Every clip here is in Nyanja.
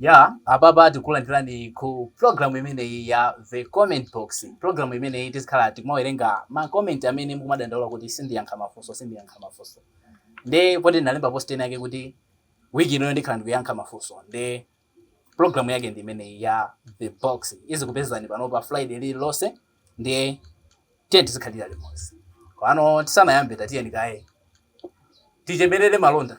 Yeah, apapa tikulandirani ku program imeneyi ya The Comment Box. Program imeneyi tizikhala tikumawerenga ma comment amene mukumadandaula kuti sindiyankha mafunso, sindiyankha mafunso. Nde poti ndinalemba post ina yake kuti week ino ndikhala ndikuyankha mafunso. Nde program yake ndi imeneyi ya The Box. Izikupezani pano pa Friday lililonse. Nde tiye tizikhalira limodzi. Komano tisanayambe tatiyeni kaye. Tichemerere malonda.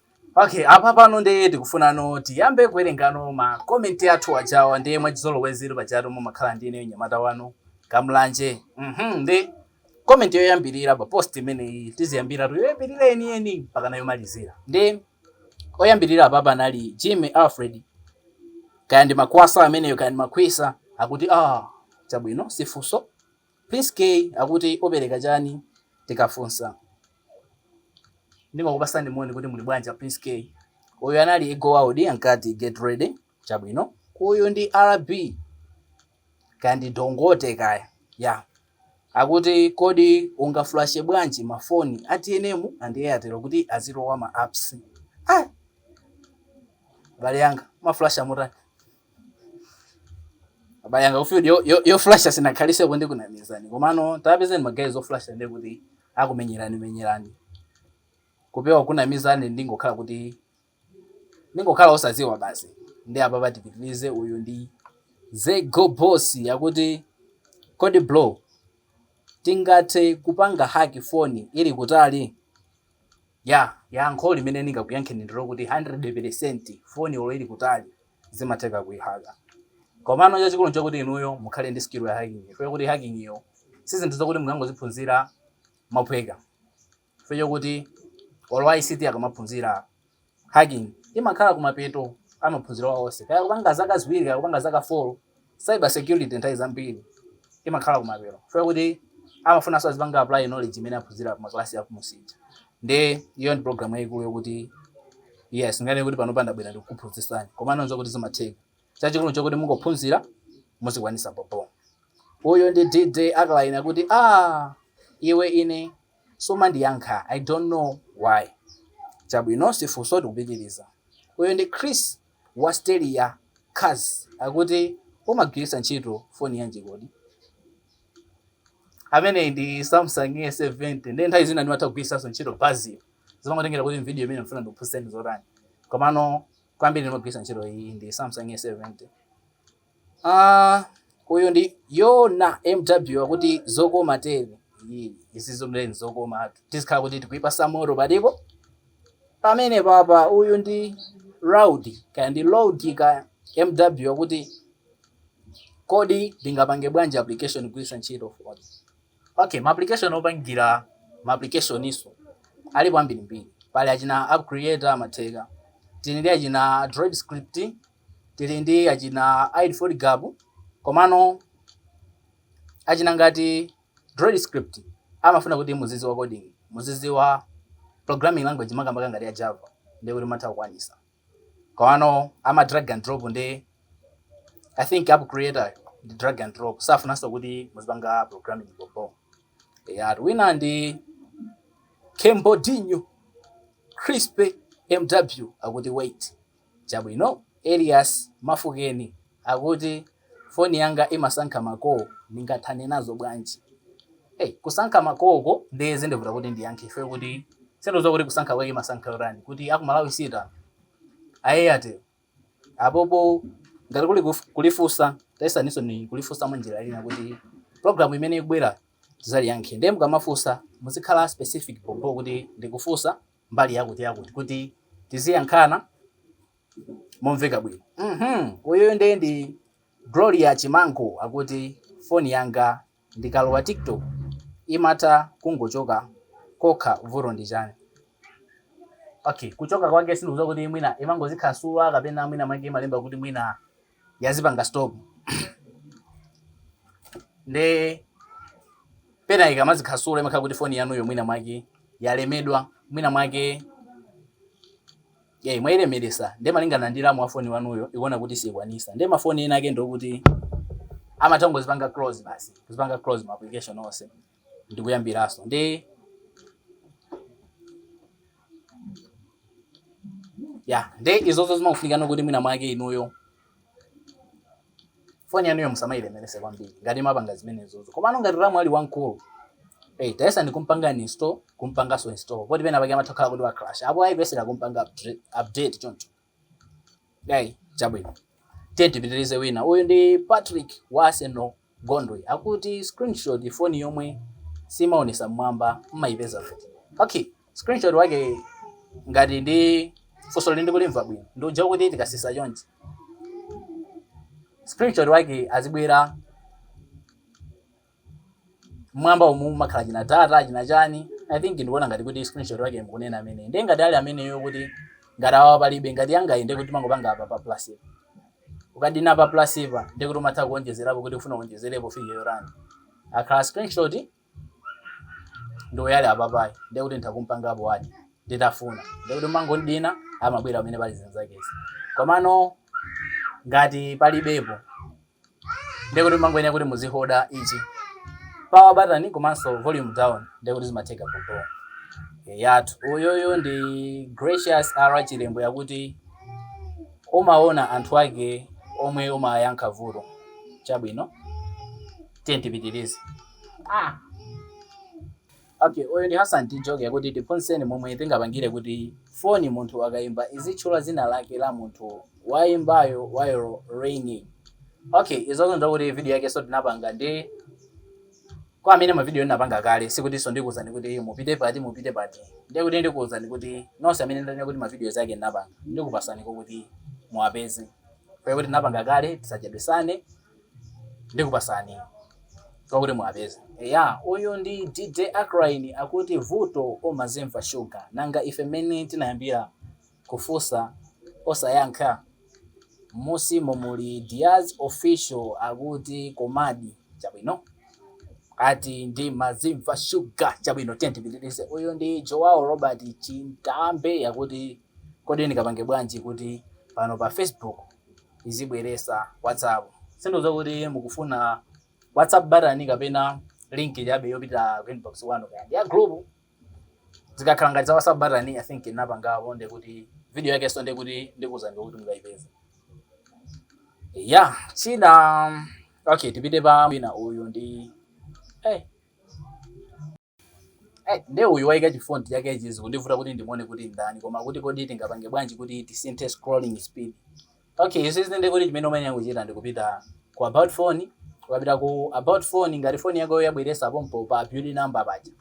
Okay, apa pano ndiye tikufunano tiyambe kuwerengano ma comment athu aja wa ndiye mwachizolowezi pajatu mumakhala ndi ineyo nyamata wanu kamlanje mhm nde comment yoyambirira pa post imeneyi tiziyambira ku yoyambirira yeniyeni mpaka kuyomalizira nde oyambirira apapa anali jimmy alfred kaya ndi makwasa ameneyo kaya ndi makhwisa akuti ah chabwino sifunso Prince Kay akuti opereka chani tikafunsa. Ndimakupatsani moni kuti muli bwanji a Prince Kay. Uyu anali Eagle World ankati get ready chabwino. Uyu ndi RB kaya ndi Dongote kaya yeah akuti kodi ungaflashe bwanji ma phone a tnm and Airtel kuti azilowa ma apps ah abale anga mumaflasha motani? abale anga kufield yoflasha sinakhalitseko ndikunamizani komano tapezeni ma guys oflasha ndi kuti akumenyerani menyerani kupewa kunamizani ndingokhala kuti ndingokhala osadziwa basi nde apapa tipitirize uyu ndi ze go boss akuti kodi bro tingathe kupanga haki foni ili kutali Ya, yankho limene ndingakuyankheni ndilokuti 100 pelesenti foni olo ili kutali zimatheka kuyihaka. Komano chachikulu nchokuti inuyo mukhale ndi skill ya hacking chifukwa chokuti hacking yo sizinthu zokuti mungangoziphunzira mophweka chifukwa chokuti olo a ICT akamaphunzira hacking imakhala kumapeto a maphunziro awo onse kaya akupanga zaka ziwiri kaya akupanga zaka 4. Cyber security nthawi zambiri imakhala kumapeto chifukwa kuti amafunano azipanga apply knowledge imene aphunzira pa makalasi a kumunsi aja nde iyo ndi program yayikulu yokuti yes singanene kuti panopa ndabwera ndikukuphunzitsani koma no nzokuti zimatheka chachikulu nchokuti mungophunzira muzikwanisa bobo uyu ndi dj akalayini akuti ah iwe ine sumandiyankha i don't know why chabwino sifunso tikupitiriza uyu ndi chris wa steri ya cars akuti umagwiritsa ntchito foni yanji kodi ameneyi ndi samsung s70 nde nthawi zina ndimatha kugwiritsanso ntchito basi zimangotengera kuti vidiyo imene mfuna ndikuphunzitseni zotani komano kwambiri ndimagwiritsa ntchito iyi ndi samsung s70 Aaa uyu ndi Yona MW akuti zokoma tere eee izizo m'leni nzokomatu tizikhala kuti tikuipasa moto patipo pamenepapa uyu ndi Rowdy kaya ndi Lowdy kaya MW akuti kodi ndingapange bwanji application kugwiritsa ntchito foni okay ma application opangira ma applicationso alipo ambirimbiri pali achina app creator amatheka tili ndi achina droid script tili ndi achina AIDE for Gab komano achina ngati Droid Script amafuna kuti muziziwa coding, muziziwa programming language makamaka ngati ya Java ndiye kuti mutha kukwanisa. Komano ama drag and drop nde I think app creator ndi drag and drop safunanso kuti muzipanga programming bho bho. Eyatu wina ndi Kembodinho Crispy MW akuti wait. Chabwino, Elias Mafukeni akuti, Foni yanga imasankha ma call, ningathane nazo bwanji? Hey, kusankha ma call ko nde zindivuta kuti ndiyankhe chifukwa kuti sindikudziwa kuti kusankha kwake imasankha yotani, kuti aku Malawi siitani? A Airtel apopo ngati kuli kulifunsa tayesaninso kulifunsa mwa njira ina kuti program imene ikubwerayi tizaliyankhe. Nde mukamafunsa muzikhala specific bho bho kuti ndikufunsa. mbali yakuti yakuti kuti tiziyankhana momveka bwino mhm uyuyu ndiye ndi Gloria Chimango akuti foni yanga ndikalowa TikTok imatha kungochoka kokha vuto ndi chani okay kuchoka kwake sindikudziwa kuti mwina imangozikhansula kapena mwina mwake imalemba kuti mwina yazipanga stop nde pena ikamazikhansula imakhala kuti foni yanuyo mwina mwake yalemedwa mwina mwake ye mwailemeresa nde malingana ndi ramu wa foni wanuyo ikuona kuti sikwanisa nde mafoni ena ake ndi okuti amathangozipanga close basi kuzipanga close ma application onse ndikuyambiranso nde ya nde izozo zimakufunikano kuti mwina mwake inuyo foni yanuyo musamayilemerese kwambiri ngati mapanga zimenezozo komano ngati ramu ali wamkulu hey, tayesani kumpanga uninstall kumpanganso install poti pena pake amatha kukhala kuti wa crash apo ayi kuyesera kumpanga update choncho Ei, chabwino. Tiye tipitirize wina. Uyu ndi Patrick wa Arsenal Gondwe. Akuti screenshot foni yomwe simaonesa mmwamba mmayipeza kuti. Okay, screenshot wake ngati ndi funsoli ndikulimva bwino. Ndi uja kuti tikasisa chonchi. Screenshot wake azibwera mmwamba umu mumakhala china data china chani i think ndikuona ngati kuti screenshot wake mukunena amene ndiye ngati ali ameneyo kuti ngati awa palibe ngati angayende kuti mumangopanga apa pa plus ipa ukadina pa plus ipa ndiye kuti umatha kuonjezerapo kuti ufuna uonjezerepo figure yorani akhala screenshot ndi uyali apapayi ndiye kuti nditakumpangapo wati nditafuna ndiye kuti mumangodina amabwera pamene pali zinzakezi komano ngati palibepo ndekuti mumangoyenera kuti muzihoda ichi power button komanso volume down ndekuti zimatheka popo ya uyoyo ndi gracious r chilembo yakuti umaona anthu ake omwe umayankha vuto chabwino tiye tipitirize ah. Okay, uyu ndi Hassan Tijoke akuti tiphunzitseni momwe tingapangire kuti foni munthu akaimba izitchula dzina lake la munthu waimbayo while ringing. Okay, izozo nzakuti video yake so tinapanga ndi kwa amene mavidiyo ndinapanga kale sikutinso ndikuwuzani kuti mupite pati mupite pati ndiye kuti ndikuwuzani kuti nonse amene ndanena kuti mavidiyo zake ndinapanga ndikupasani kwa kuti muwapeze kwa kuti ndinapanga kale tisachedwesane Ndikupasani kwa kuti muwapeze. Eya uyu ndi DJ Acrine akuti vuto umazimva sugar nanga ife mmene tinayambira kufusa osayankha? Mmusimu muli Diaz official akuti komadi chabwino ati ndimazimva sugar chabwino tiyeni tipitilize uyu ndi Joao Robert Chintambe akuti kodi ndingapange bwanji kuti pano pa Facebook izibweresa WhatsApp. Sindidziwa kuti mukufuna WhatsApp button kapena link chabe yopita ku inbox kwanu kaya ndi ya group. Zikakhala ngati za WhatsApp button I think ndinapangapo nde kuti video yakeso nde kuti ndikuuzani kuti mukayipeze. Yeah, china okay tipite pa wina uyu ndi eh hey. Ai, nde uyu waika chi font chake ichi zikundivuta kuti ndimuone kuti ndani koma kuti kodi tingapange bwanji kuti tisinthe scrolling speed. Okay, izizi nde kuti chimene umayenera kuchita ndi kupita ku about phone, ukapita ku about phone ngati phone yako yabweresa pompo pa build number paja.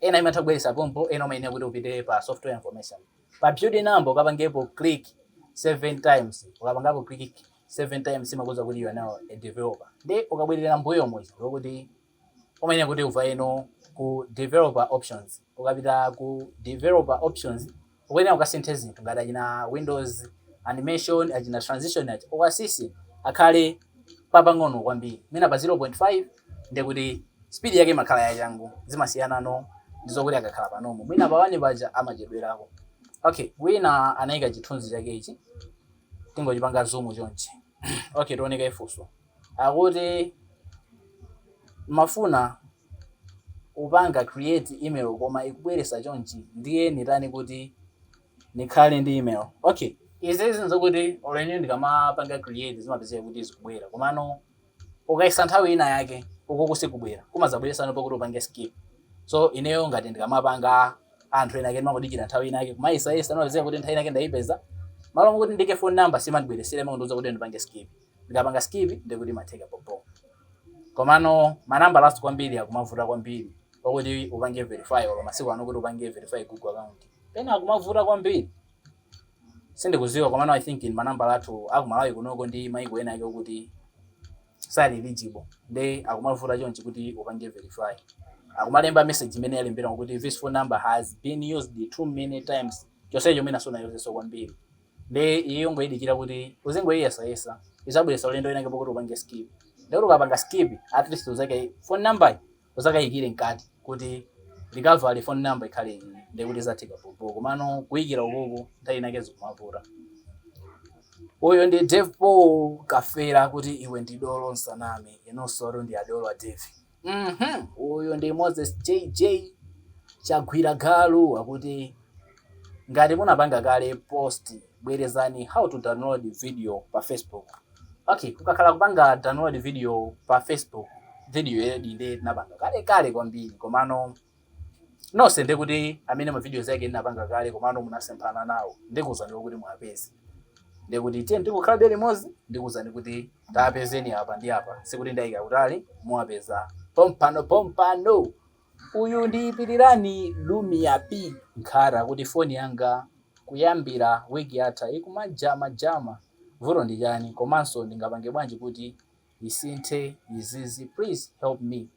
Ena imatha kubweresa pompo, ena umayenera kuti upite pa software information. Pa build number ukapangepo click 7 times. Ukapangapo click 7 times imakuuza kuti you are now a developer. Nde ukabwerera mmbuyo muja ndiye kuti Umayenera kuti uvayeno ku Developer Options. Ukapita ku Developer Options, ukuyenera ukasinthe zinthu ngati achina Windows Animation, achina Transition aja, uwasise akhale papang'ono kwambiri, mwina pa 0.5, ndiye kuti speed yake imakhala yachangu, zimasiyanano ndi zokuti akakhala pa Normal, mwina pa 1 paja amachedwerako. Okay, wina anaika chithunzi chake ichi, tingochipanga zoom chonchi. Okay, tione kaye funso. Akuti mafuna kupanga create email koma ikubweresa chonchi ndiye nitani kuti nikhale ndi email okay izizi nzokuti olo ine ndikamapanga create zimapezeka kuti zikubwera komano ukayesa nthawi ina yake ukuku sikubwera kumazabweresano pokuti upange skip so ineyo ngati ndikamapanga anthu ena ake ndimangodikira nthawi ina yake kumayesayesa imapezeka kuti nthawi ina yake ndaipeza malo mokuti ndiike phone number simandibweresera imangondiuza kuti ndipange skip ndikapanga skip ndiye kuti imatheka bobo komano manambala kwambiri akumavuta kwambiri pokuti upange verify olo masiku ano kuti upange verify google account pena akumavuta kwambiri sindikuziwa komano i think ndi manambala athu akumalawi kunoko ndi maiko ena ake okuti sali eligible nde akumavuta chonchi kuti upange verify akumalemba message imene yalembera kuti this phone number has been used too many times chonsecho mwina sunayuzeso kwambiri Nde iyoyo ungoidikira kuti uzingoiyesayesa izabweresa ulendo winake pokuti upange skip ndekuti ukapanga skip at least uzaike phone number uzakaikire mkati kuti recovery phone number ikhale iyi ndekuti zatheka bhobho komano kuikira ukuku nthawi inake zikumavuta uyo ndi Dave Paul Kafera akuti iwe ndi dolo musaname inusotu ndi adolo a Dave. Uhmm uyu ndi Moses JJ Chagwira Galu akuti ngati munapanga kale post bwerezani how to download video pa Facebook okay kukakhala kupanga download video pa Facebook video yedi nde tinapanga kale kale kwambiri komano Nonse ndikuti amene ma videos ake ndinapanga kale komano munasemphana nawo ndikuuzani kokuti muwapeze. Ndiye kuti tiyeni tingokhalabe limodzi ndikuuzani kuti tapezeni apa ndi apa. Sikuti ndaika kutali, muwapeza pompano pompano. Uyu ndi Pilirani Lumiya P Nkhata akuti foni yanga kuyambira week yatha ikumajama jama vuto ndi chani komanso ndingapange bwanji kuti isinthe izizi please help me.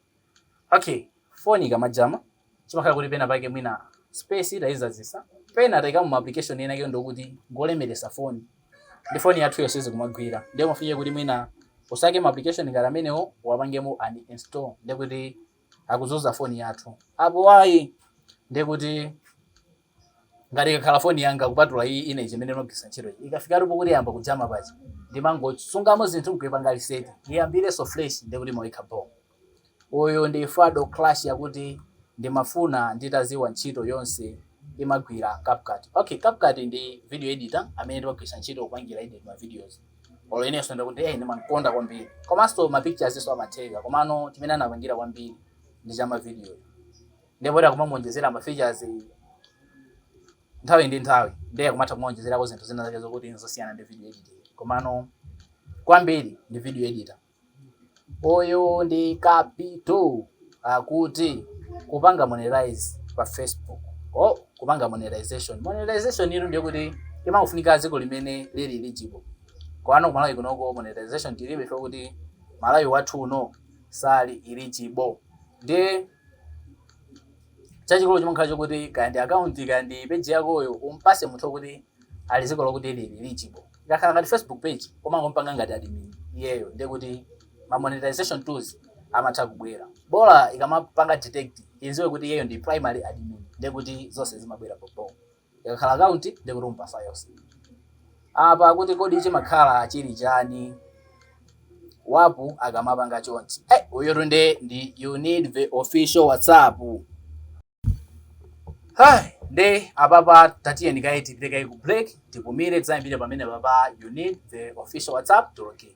Okay, phone ikamajama chimakhala kuti pena pake mwina space tayizazisa pena tayikamo application ena ake ndokuti ngolemelesa phone ndi phone yathu yo sizikumagwira ndiye umafike kuti mwina usake ma application ngati amenewo uwapangemo uninstall ndikuti akuzuza phone yathu apo ayi ndiye kuti ngati ikakhala phone yanga kupatula iyi ine imene ndimagwiritsa ntchito iyi ikafika pokuti yayamba kujama paja ndimangosungamo zinthu nkuyipanga reset iyambirenso fresh ndiye kuti imakhala bho Uyu ndi Fado clash akuti ndimafuna nditaziwa ntchito yonse imagwila CapCut okay CapCut ndi video editor amene timagwilitsa ntchito kupangila edit ma videos olo ineso ndikuti eeh ndimankonda kwambiri komaso ma pictures so amatheka komano chimene anapangila kwambiri ndi cha ma video nde poti akumamuonjezela ma features nthawi ndi nthawi nde akumatha kumaonjezelako zinthu zina zake zokuti nzosiyana ndi video editing komano kwambiri ndi video editor. Uyu ndi Kapito akuti kupanga monetize pa Facebook. Oh, kupanga monetization. Monetization itu ndiye kuti imangofunika dziko limene lili eligible. Koma ku Malawi kunoko monetization tilibe chifukwa Malawi wathu uno sali eligible. Ndiye chachikulu chimakhala chokuti kaya ndi akaunti kaya ndi peji yakoyo umpase munthu okuti ali dziko lokuti lili eligible ikakhala ngati facebook page kumangompanga ngati admin iyeyo ndiye kuti ma monetization tools amatha kubwera bola ikamapanga detect idziwe kuti iyeyo ndi primary admin ndiye kuti zonse zimabwera bhobho Ikakhala account ndiye kuti umpasa yonse. Apa akuti kodi chimakhala chili chani wapu akamapanga chonchi. Hey, uyutu nde ndi you need the official WhatsApp. Hey, nde apapa tatiyeni kaye tipite kaye ku break tipumire tizayambire pamene papa you need the official WhatsApp to log in.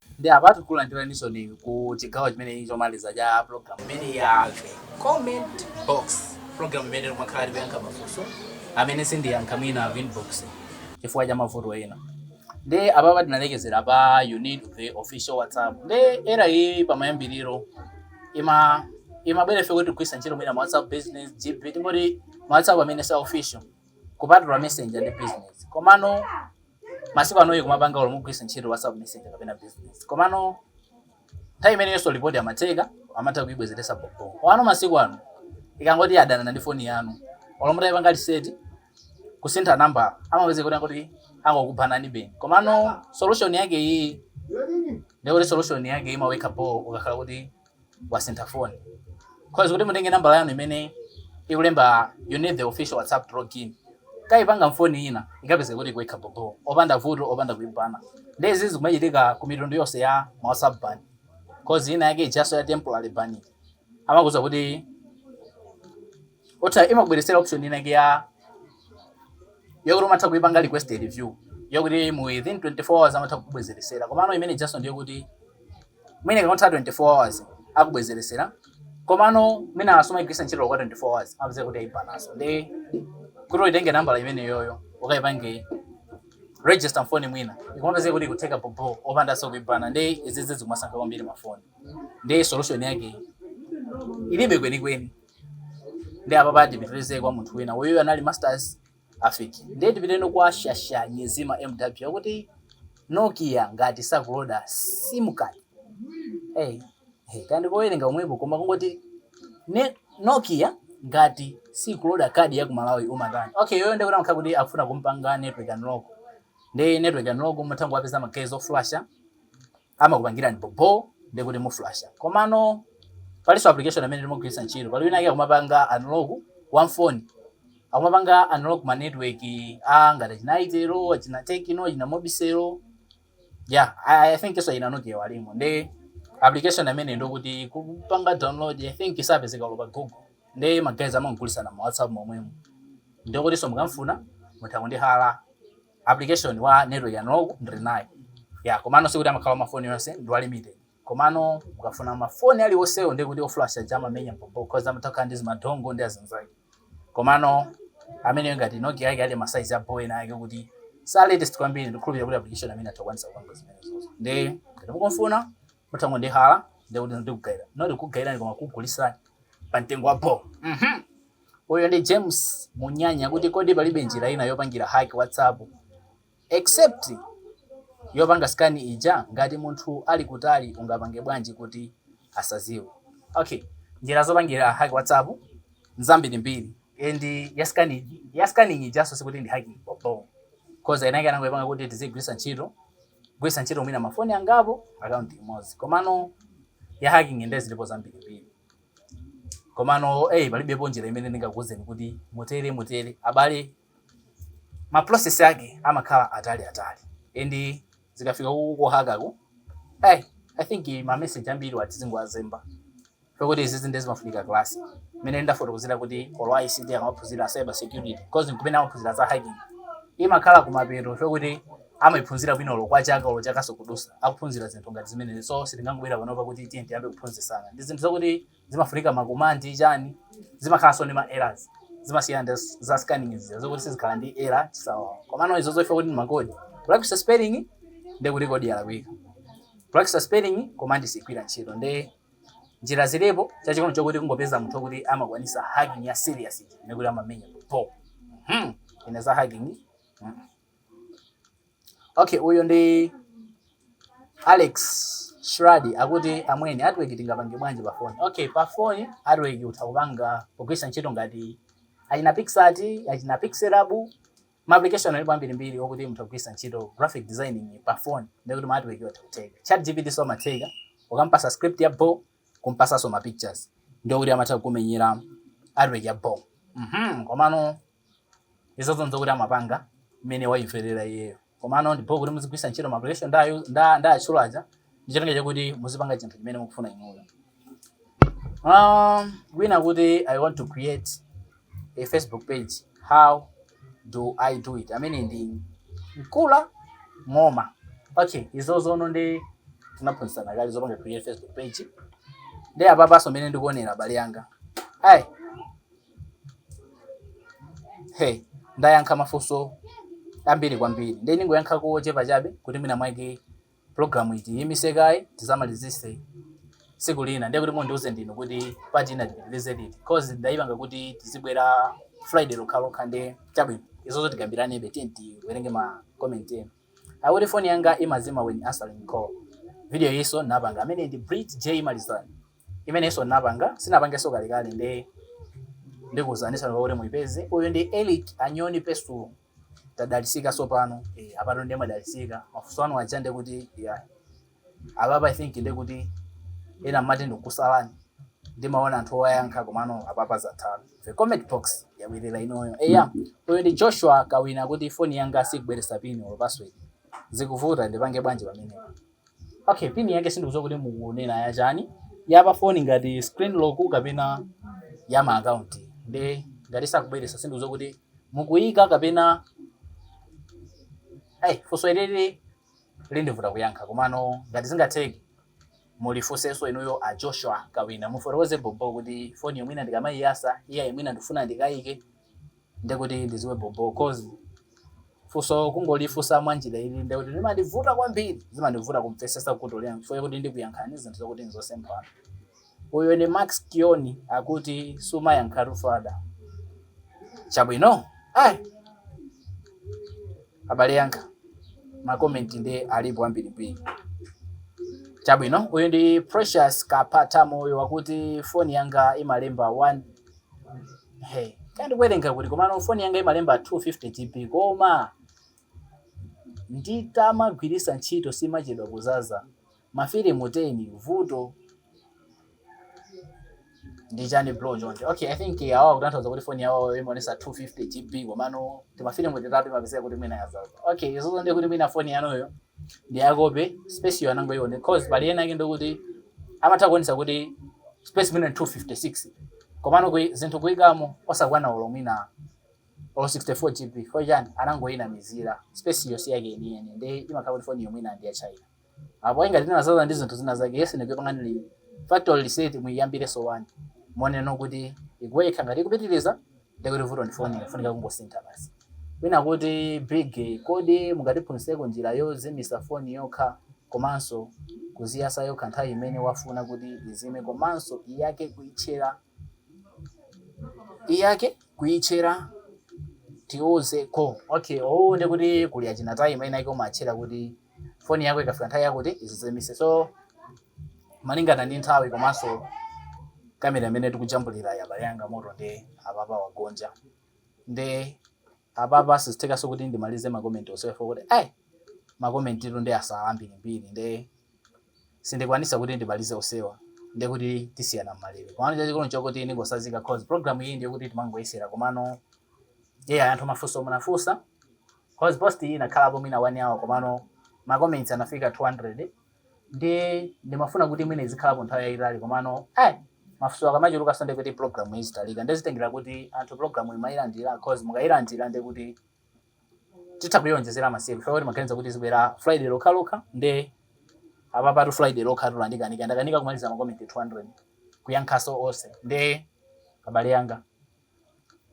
Nde apa tikulandiranisoni ku chigawo chimenechi chomaliza cha pulogalamu imeneyi ya the comment box pulogalamu imene timakhala tikuyankha mafunso amene sindiyankha mwina ku inbox chifukwa cha mavuto ena nde apapa tinalekezera pa you need the official whatsapp nde error iyi pamayambiriro ima imabwera chifukwa chogwisa ntchito mwina ma whatsapp business gb tingoti ma whatsapp amene sa official kupatula messenger ndi business komano Masiku ano ikumapanga olo mugwisa ntchito WhatsApp Messenger kapena business. Komano nthawi imeneyonso ukapanga report amatheka, amatha kuibwezeretsa bhobho. Komano masiku ano ikangoti yadanana ndi foni yanu, olo mutaipanga reset, kusintha number, amapezeka kuti angokubananibe. Komano solution yake iyiyi, ndiye kuti solution yake imaweka bho ukakhala kuti wasintha phone cause kuti mutenge nambala yanu imene ikulemba you need the official whatsapp to log in mukaipanga mfoni ina ikupezeka kuti ikuweka bhobho opanda vuto opanda kuibana nde izi zikumachitika ku mitundu yonse ya ma whatsapp ban cause ina yake ijaso ya temporary ban amakuuza kuti ota imakubweresera option ina yake ya yokuti umatha kuipanga request a review yokuti mu within 24 hours amatha kukubwezeresera komano imene ijaso ndiyokuti Mwina ikangotha 24 hours akubwezeresera komano mwina sumaigwiritsa ntchito yokwana 24 hours amapezeka kuti ayibanaso nde kuti uitenge nambala imeneyoyo ukaipange register mfoni mwina ikumapezeka kuti ikutheka bhobho opandanso kuibana nde izizi zikumasankha kwambiri mafoni nde solution yake ilibe kwenikweni nde apapa tipitirize kwa munthu wina uyu anali masters Afiki. Ndiye tipiteno kwa shasha nyezima MW akuti Nokia ngati sakuloda sim card hey hey kaya ndikowelenga komwepo koma tingoti Nokia ngati sikuloda card ya ku Malawi umatani okay iyeyo ndiye kuti amakhala kuti akufuna kumpanga network unlock nde network unlock mutha kungowapeza ma guys oflasha amakupangirani bo bo ndiye kuti muflasha komano palinso application amene timagwiritsa ntchito pali wina wake akumapanga unlock wa mafoni akumapanga unlock ma network a ngati achina itel achina tecno achina mobicel yeah i, I think iso achina nokia walimo ndi application amene ndokuti kupanga download i think sapezeka olo pa google nde magaye amagulitsana ma whatsapp momwemo ndokutinso mukamfuna mutha kundihala application wa network unlock ndili naye yeah komano sikuti amakhala wa mafoni yonse ndi wa limited komano mukafuna mafoni aliwonsewo ndiye kuti oflash aja amamenya bo bo cause amatokhala ndi zimadongo ndi azinzake komano ameneyo ngati nokia yake ali masaizi a bo ena ake kuti sa latest kwambiri ndikhulupirira kuti application amene atha kukwanisa kupanga zimenezozo nde ngati mukumfuna mutha kungondihala ndiye kuti ndikugaira noti kugairani koma kugulisani pa mtengo wa bho Mhm. uyo ndi james munyanya kuti kodi palibe njira ina yopangira hack whatsapp except yopanga scan ija ngati munthu ali kutali ungapange bwanji kuti asaziwe okay njira zopangira hack whatsapp nzambiri mbiri and ya scanning ijanso sikuti ndi hacking bho cause inayake anangoipanga kuti tizigwiritsa ntchito kugwiritsa ntchito mwina mafoni angapo account imodzi komano ya hacking nde zilipo zambirimbiri komano eh palibepo njira imene ndingakuuzeni kuti mutere mutere abale ma process ake amakhala atali atali and zikafika ku kuhakaku eh i think ma message ambiri wa tizingowazemba Pakuti izizi ndiye zimafunika class. Mene ndafotokozera kuti olo a ICT amaphunzira cyber security cause nkumene amaphunzira za hacking. Imakhala kumapeto pakuti amaiphunzira bwino olo kwa chaka olo chakaso kudusa akuphunzira zinthu ngati zimenezi so sitingangobwera panopa kuti tiye tiyambe kuphunzisana ndi zinthu zakuti zimafunika makomandi chani zimakhalanso ndi ma errors zimasiyana ndi z- za scanning zija zokuti sizikhala ndi error chisawawa komano izo zofa kuti ndi makodi practice spelling ndi kuti kodi yalakwika practice spelling komandi sigwira ntchito nde njira zilipo chachikono chokuti kungopeza munthu kuti amakwanisa hacking ya serious ija ndiye kuti amamenya bo mhm ine za hacking mhm. okay uyo ndi Alex Shradi akuti amwene artwork tingapange bwanji pa phone okay pa phone artwork utha kupanga pogwisa ntchito ngati achina Picsart achina Pixellab Ma application alipo ambirimbiri okuti mutha kugwiritsa ntchito graphic designing pa phone ndiye kuti ma artwork wo atha kutheka. ChatGPT so zimatheka, ukamupatsa script ya bho, kumupatsanso ma pictures ndiye kuti amatha kukumenyera artwork ya bho mmh komano izozo n'zokuti amapanga mmene waimverera iyeyo. Komano ndi bho kuti muzigwiritsa ntchito ma application nda ndawatchula aja. ndi cholinga chakuti muzipanga chinthu chimene mukufuna inuyo um, wina kuti i want to create a facebook page how do i do it amene ndi mkula ng'oma okay izozono nde tinaphunzisana kale zopanga create facebook page nde apapaso mene ndikuonera abale yanga ayi hey ndayankha mafunso ambiri kwambiri nde ndingoyankhako ochepa chabe kuti mwina mwake Program itiyimise kaye tizamalizise tsiku lina ndiye kuti mundiuze ndinu kuti part ina tipitilize liti coz ndayipanga kuti tizibwera friday lokhalokha nde chabwino izozo tikambilanebe tiyeni tiwerenge ma comment enu akuti phone yanga imazima when answering call video iyiso ndinapanga ameneyi ndi Brit J Malizani imeneyinso ndinapanga tinapangaso kalekale nde ndikuuzaniso kuti muyipeze uyu ndi Elick Anyoni Pesulo. tadalisika sopano eh, apano ndimadalisika mafunso anu aja ndiye kuti yeah. apapa i think ndiye kuti ena mmati ndikukusalani ndimaona anthu owayankha komano apapa zatheka the comment box yabwerera inoyo eya uyu ndi joshua kawina kuti foni yanga sikubweresa pini or password zikuvuta ndipange bwanji pamenepo Okay, pin yake sindikudziwa kuti mukunena ya chani. Ya pa phone ngati screen lock kapena ya ma account. Nde ngati sakubweresa sindikudziwa kuti mukuyika kapena Hey, funso ilili lindivuta kuyankha komano ngati zingatheke mulifunsenso inuyo a Joshua Kawina mufotokoze bobo kuti phone yo mwina ndikamayiyasa iyayi mwina ndifuna ndikayike ndikuti ndiziwe bhobho coz funso kungolifunsa mwanjira ili nde kuti limandivuta kwambiri zimandivuta kumvesesa kuti ndiyankhe kuti ndikuyankhani zinthu zokuti nzosemphana uyu ndi max kioni akuti sumayankhatu fada chabwino ayi abale yanga makomenti nde alipo ambirimbiri chabwino uyu ndi precious kapatamoyo akuti foni yanga imalemba one Hey, kaya ndikuwerenga kuti komano foni yanga imalemba 250 GB koma ndikamagwiritsa ntchito simachedwa kuzaza mafilimu 10 vuto ndi chani bro chonde okay i think eh, awa akutanthauza kuti foni yawoyo imaonesa 250 gb komano timafilimu titatu imapezeka kuti mwina yazaza okay izozo ndiye kuti mwina foni yanuyo ndi ya copy space yo anangoione cause pali ena ake ndikuti amatha kuonesa kuti space mwina ndi 256 komano koyi, zinthu kuikamo osakwana olo mwina olo 64 gb chifukwa chani anangoinamizira space yo si yake yeniyeni nde imakhala kuti foni yo mwina ndi ya china apo ayi ngati inazaza ndi zinthu zina zake yesani kuipanga factory reset muiyambireso wani muoneno kuti ikuweka ngati ikupitiriza Ndiye kuti vuto ndi foniyo, ifunika kungosintha basi. Wina akuti, Big, kodi mungatiphunzitseko njira yozimitsa foni yokha komanso kuziyatsa yokha nthawi imene wafuna kuti izime komanso iyake kuitchera? Iyake kuitchera? Tiuzeko. Okay, uwu ndiye kuti kuli achina timer enaake umatchera kuti foni yako ikafika nthawi yakuti izizimitse. So malingana ndi nthawi komanso kamera imene tikujambulira yi abale anga moto nde apapa wagonja nde apapa sizithekaso kuti ndimalize makomenti onsewa kuti ayi makomentitu nde asala ambirimbiri nde sindikwanisa kuti ndimalize onsewa ndekuti tisiyana mmalire komano chachikulu nchokuti ndingosazika cause program iyi ndiyokuti timangoyesera komano eh anthu mafunso munafunsa cause post iyi inakhalapo mwina one hour komano makomenti anafika 200 nde ndimafuna kuti mwina izikhalapo nthawi yayitali komano eh mafunso akamachulukaso ndekuti program izitalika ndezitengera kuti anthu program imayilandira cause mukayilandira ndekuti titha kuyonjezera masiku chifukwa timaganiza kuti izibwera friday lokhalokha nde apapatu friday lokha tu ndakanika ndakanika kumaliza makomenti 200 kuyankhaso onse nde abale anga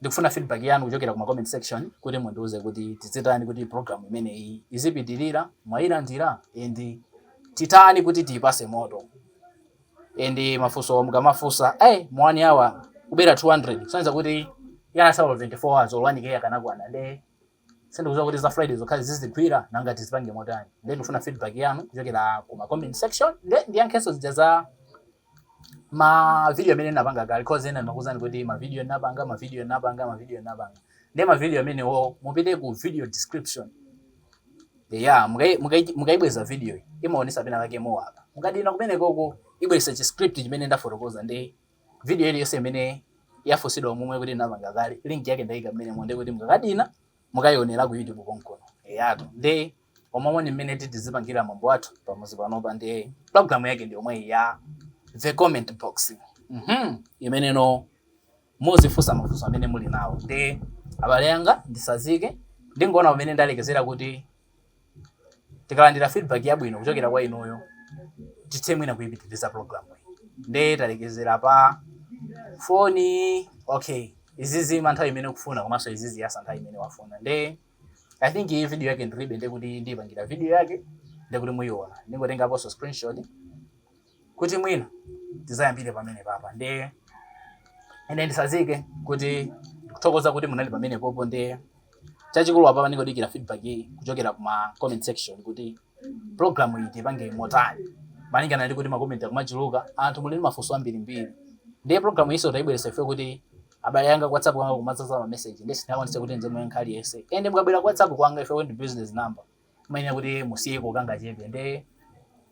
Ndikufuna feedback yanu kuchokera kuma comment section kuti mundiuze kuti tizitani kuti program imeneyi izipitirira, mwayilandira and titani kuti tiyipase moto. And mafunso mukamafunsa, eh mu 1 hour kubwera 200 kusonyeza kuti inasala 24 hours or 1K akanakwana nde Sindikuziwa kuti za Friday zokhazi zizigwira nanga tizipange motani nde ndikufuna feedback yanu kuchokera ku ma comment section nde ndiyankhenso zijazi za ma video amene ndinapanga kale cause ena ndimakuuzani kuti ma video ndinapanga ma video ndinapanga ma video ndinapanga nde ma video amenewo mupite ku video description ya mukai- mukai- mukaibweza video iyi imaonesa pena pake more apa mukadina kumenekoko ibwesa chi script chimene ndafotokoza ndi Video iliyonse imene yafunsidwa momwemu kuti ndinapanga kale link yake ndaika mmenemo ndiye kuti mukakadina mukaionera ku YouTube konkuno eyatu nde umu ndi mmene tizipangira mwambo wathu pamuzi panopa ndi program yake ndi yomweyi ya the comment box mhm imeneno muzifunsa mafunso amene muli nawo nde abale anga ndisazike ndingoona pamene ndalekezera kuti tikalandira feedback yabwino kuchokera kwa inuyo tithe mwina kuipitiriza program iyi nde talekezera pa foni okay izizima nthawi imene ukufuna komanso iziziyasa nthawi imene wafuna nde i think iyi video yake ndiribe ndekuti ndiyipangira video yake ndekuti muyiona ndingotengaponso screenshot kuti mwina tidzayambire pamenepapa nde ine nditsazike kuti ndikuthokoza kuti munali pamenepopo nde chachikulu apa ndingodikira feedback kuchokera kuma comment section kuti program iyi tipange motani malingana ndi kuti makomenti akumachuluka anthu muli ndi mafunso ambirimbiri ndiye program iyiso tayibweretsa ife kuti abale anga ku whatsapp kwanga kumadzaza ma message nde tinaonetsetsa kuti timwe nkhani yonse ende mukabwera ku whatsapp kwanga ife ndi business number Mumayenera kuti musiyeko kangachepe nde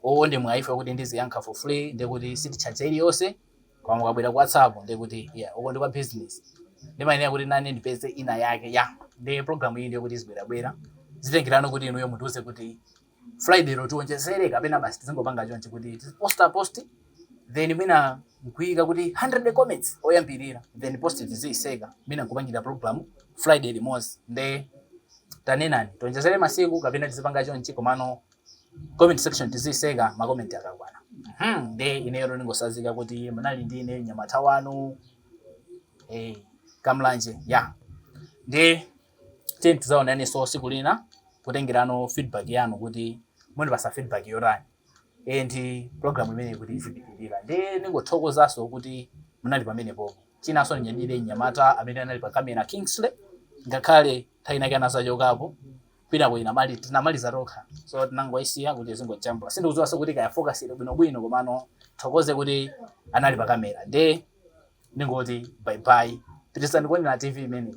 uwu ndi mwayi ife kuti tiziyankha for free nde kuti sititchaja iliyonse koma mukabwera ku WhatsApp nde kuti yeah uko ndi kwa business ndimayenera kuti nane ndipeze ina yake yeah nde program iyi ndiye kuti izibwerabwera zitengera no kuti inuyo mutiuze kuti Friday lo tionjezere kapena basi tizingopanga chonchi kuti tiposta post then mwina nkuika kuti 100 comments oyambirira then post tiziyitseka mwina nkupangira program friday limodzi nde tanenani tionjezere masiku kapena tizipanga chonchi komano comment section tiziyitseka makomenti akakwana Mhm, nde ineyo ndingotsazika kuti munali ndi ine mnyamata wanu eh, kamlanje ya nde tiyeni tidzaonanenso siku lina kutengerano feedback yanu kuti mundipatsa feedback yotani and program imeneyi kuti izipitirira nde ningothokozanso kuti munali pamenepopo chinanso ndinyadire mnyamata amene anali pa kamera kingsley ngakhale nthawi inake anadzachokapo kwinako inamali tinamaliza tokha so tinangoisiya kuti izingojambula sindikudziwanso kuti kaya focus ili bwinobwino komano tithokoze kuti anali pa kamera nde ningoti bye bye pitirizani kuonera tv imeneyi